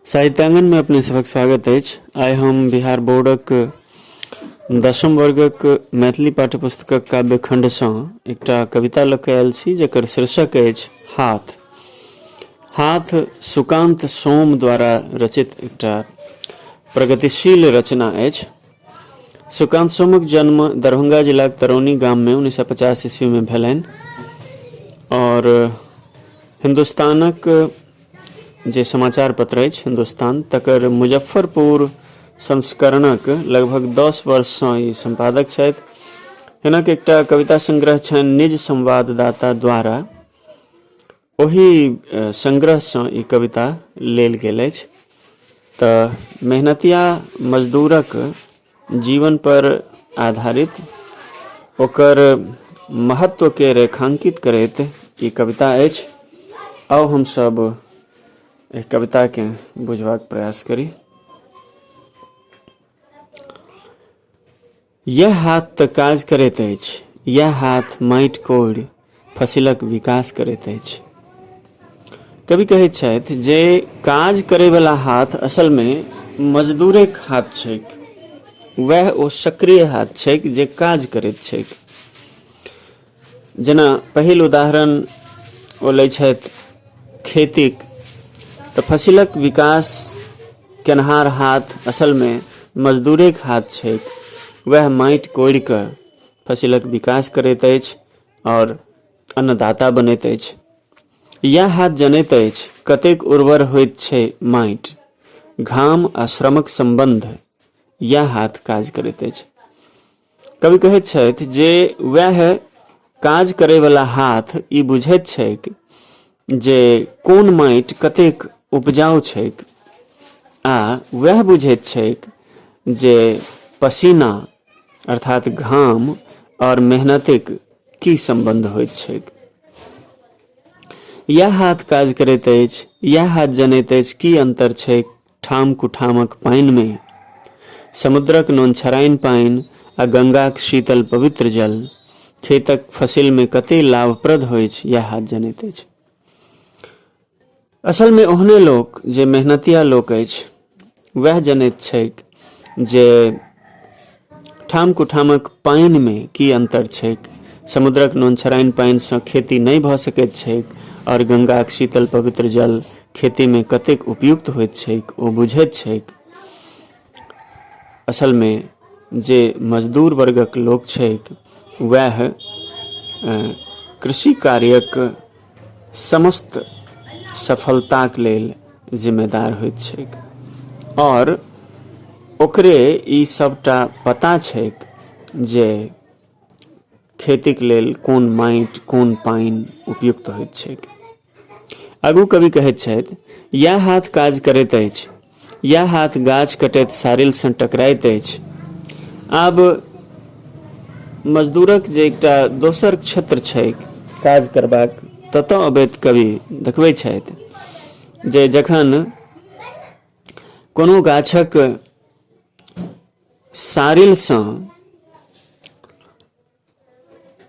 साहित्यांगन में अपने सबक स्वागत है आइ हम बिहार बोर्डक दशम वर्गक मैथिली पाठ्यपुस्तकक काव्यखण्डसँ एकटा कविता लऽ कऽ आयल छी जकर शीर्षक अछि हाथ हाथ सुकान्त सोम द्वारा रचित एकटा प्रगतिशील रचना अछि सुकान्त सोमक जन्म दरभंगा जिलाक तरौनी गाममे उन्नैस सए पचास ईस्वीमे भेलनि आओर हिन्दुस्तानक जे समाचार पत्र अछि हिन्दुस्तान तकर मुजफ्फरपुर संस्करणक लगभग दस वर्षसँ ई सम्पादक छथि हिनक एकटा कविता संग्रह छनि निज संवाददाता द्वारा ओहि संग्रहसँ ई कविता लेल गेल अछि तऽ मेहनतिया मजदूरक जीवन पर आधारित ओकर महत्वके रेखांकित करैत ई कविता अछि आउ हमसभ एहि कविताकेँ बुझबाक प्रयास करी यैह हाथ तँ काज करैत अछि, यैह हाथ माटि कोड़ि फसिलक विकास करैत अछि। कवि कहैत छथि जे काज करैबला हाथ असलमे मजदूरेक हाथ छैक। वैह ओ सक्रिय हाथ छैक जे काज करैत छैक। जेना पहिल उदाहरण ओ लै छथि खेतीक तऽ फसिलक विकास केनहार हाथ असलमे मजदूरेक हाथ छै वएह माटि कोड़ि कऽ फसिलक विकास करैत अछि आओर अन्नदाता बनैत अछि इएह हाथ जनैत अछि कतेक उर्वर होइत छै माटि घाम आ श्रमक सम्बन्ध इएह हाथ काज करैत अछि कवि कहैत छथि जे वएह काज करैवला हाथ ई बुझैत छैक जे कोन माटि कतेक उपजाउ छैक आ वएह बुझैत छैक जे पसीना अर्थात घाम और मेहनतिक की संबंध होइत छैक इएह हाथ काज करैत अछि इएह हाथ जनैत अछि की अन्तर छैक ठाम कुठामक पानिमे समुद्रक नोनछराइन पानि आ गंगाक शीतल पवित्र जल खेतक फसिलमे कते लाभप्रद होइत यह हाथ जनैत अछि असलमे ओहने लोक जे मेहनतिया लोक अछि वह जनैत छैक जे ठाम-कुठामक पानिमे की अन्तर छैक? समुद्रक नोनछराइन पानिसँ खेती नहि भऽ सकैत छैक आओर गंगाक शीतल पवित्र जल खेतीमे कतेक उपयुक्त होइत छैक ओ बुझैत छैक। असलमे जे मजदूर वर्गक लोक छैक वैह कृषि कार्यक समस्त सफलताक लेल जिम्मेदार होइत छैक आओर ओकरे ई सबटा पता छैक जे खेतीक लेल कोन माटि कोन पानि उपयुक्त होइत छैक आगू कवि कहैत छथि इएह हाथ काज करैत अछि इएह हाथ गाछ कटैत सारिलसँ टकराइत अछि आब मजदूरक जे एकटा दोसर क्षेत्र छैक काज करबाक ततऽ अबैत कवि देखबै छथि जे जखन कोनो गाछक सारिलसँ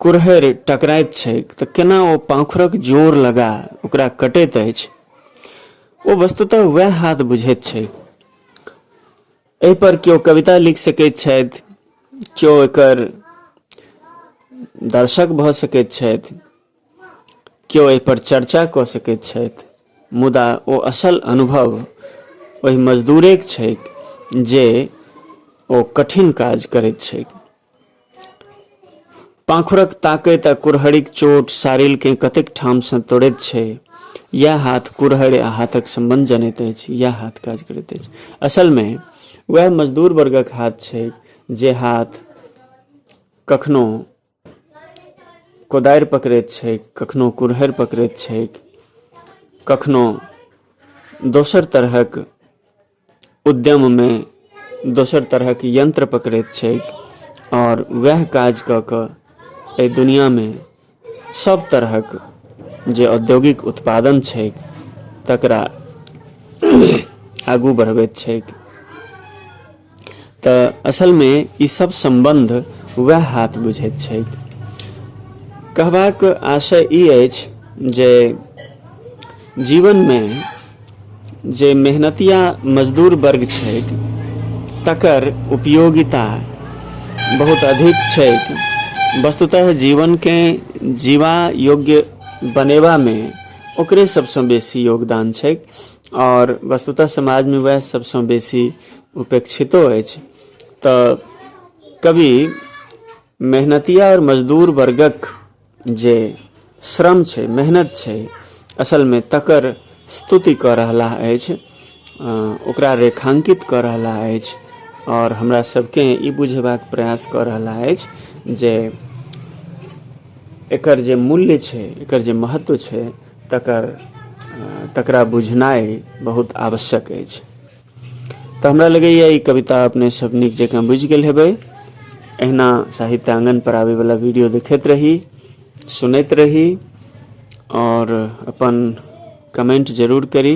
कुरहरि टकराइत छैक तऽ केना ओ पाँखुरक जोर लगा ओकरा कटैत अछि ओ वस्तुतः वएह हाथ बुझैत छैक एहिपर केओ कविता लिख सकैत छथि केओ एकर दर्शक भऽ सकैत छथि केओ एहिपर चर्चा कऽ सकैत छथि मुदा ओ असल अनुभव ओहि मजदूरेक छैक जे ओ कठिन काज करैत छैक पाँखुरक ताकैत आ कुरहरिक चोट सारिलकेँ कतेक ठामसँ तोड़ैत छै इएह हाथ कुरहरि आ हाथक सम्बन्ध जनैत अछि इएह हाथ काज करैत अछि असलमे उएह मजदूर वर्गक हाथ छै जे हाथ कखनो कोदारि पकड़ैत छै कखनो कुरहरि पकड़ैत छै कखनो दोसर तरहक उद्यममे दोसर तरहक यन्त्र पकड़ैत छैक आओर वएह काज कऽ कऽ एहि दुनियामे सब तरहक जे औद्योगिक उत्पादन छैक तकरा आगू बढ़बैत छैक तऽ असलमे ई सब सम्बन्ध वएह हाथ बुझैत छैक कहबाक आशय ई अछि जे जीवनमे जे मेहनतिया मजदूर वर्ग छैक तकर उपयोगिता बहुत अधिक छैक वस्तुतः जीवनके जीवा योग्य बनेबामे ओकरे सभसँ बेसी योगदान छैक आओर वस्तुतः समाजमे वएह सभसँ बेसी उपेक्षितो अछि तऽ कवि मेहनतिया आओर मजदूर वर्गक जे श्रम छै मेहनत छै असलमे तकर स्तुति कऽ रहला अछि ओकरा रेखांकित कऽ रहला अछि आओर हमरा सबके ई बुझेबाक प्रयास कऽ रहला अछि जे एकर जे मूल्य छै एकर जे महत्व छै तकर तकरा बुझनाइ बहुत आवश्यक अछि तऽ हमरा लगैए ई कविता अपने सब नीक जकाँ बुझि गेल हेबै एहिना साहित्य आंगन पर आबे वाला वीडियो देखैत रही सुनैत रही और अपन कमेंट जरूर करी